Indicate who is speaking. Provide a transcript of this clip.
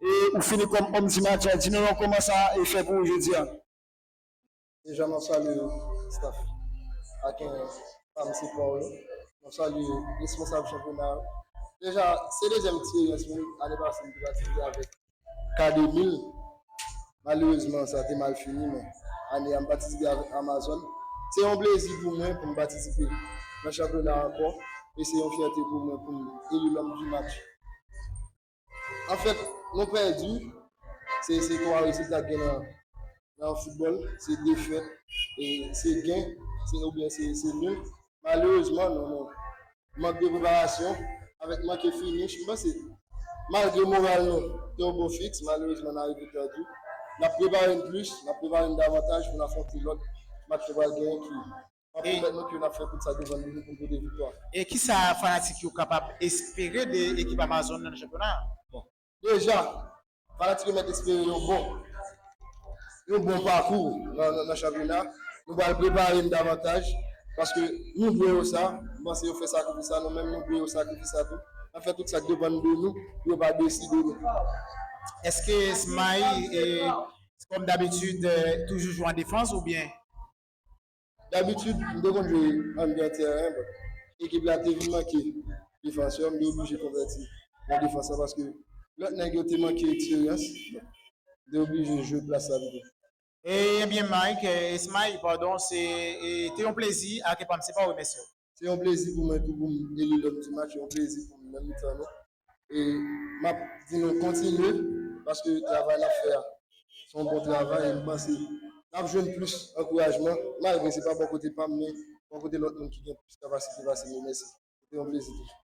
Speaker 1: E ou fini kòm òm di matyè. Di nou yon kòman sa e fè pou ou jodi a.
Speaker 2: Deja map salye staff Aken pam se paw yo. Map salye responsab chanpyona yo. Deja se dezyèm eksperyans mwen ane pase mte patisipe avèk ka 2000 malerezman sa te mal fini men ane a m patisipe avèk amazòn se yon plezi pou mwen poum patisipe nan chanpyona ankò e se yon fyète pou mwen poum eli lòm di match. An fèt, nou pèdi. Se 3 rezilta k gen nan foutbòl. Se defèt, se gen oubyen se nil. Malerezman, mank de preparasyon avèk manke finish. M panse, malgre moral nou te yon bon fiks, malerezman n a rive pèdi. N ap prepare n plis, n ap prepare n davantaj pou n afwonte lòt match nou pral genyen ki. Amen bèl mèt yo nap fè tout sa devan nou pou nou pote viktwa. E kisa fanatik
Speaker 3: yo kapab espere de ekip Amazon nan chanpyona a? Bon deja
Speaker 2: fanatik yo mèt espere yon bon yon bon pakou nan chanpyona nou pral prepare n davantaj paske nou dwe yo sa m panse yo fè sakrifis sa nou menm nou dwe yo sakrifis sa tou nap fè tout sak depann de nou pou yo pa desi de nou.
Speaker 3: Eske Smaï kòm dabitid toujou jwe an defans oubyen?
Speaker 2: Dabitid m te konn jwe anndan tèren but ekip la te vin manke defansè m te oblije konvèti nan defans la paske lòt nèg yo te manke eksperyans m te oblije jwe plas la pito. Ebyen
Speaker 3: Mike, Esmay pardon, se te yon plezi ak epam se pa remèsye w. Se yon plezi pou
Speaker 2: mwen tou poum eli lòm di match, yon plezi poum nan mitan nou e map di nou kontinye paske travay nap fè a se yon bon travay e m panse nap jwenn plis ankourajman malgre se pa bò kote pam men bò kote lòt moun ki gen plis kapasite pase nou. Mèsi se te yon plezi toujou.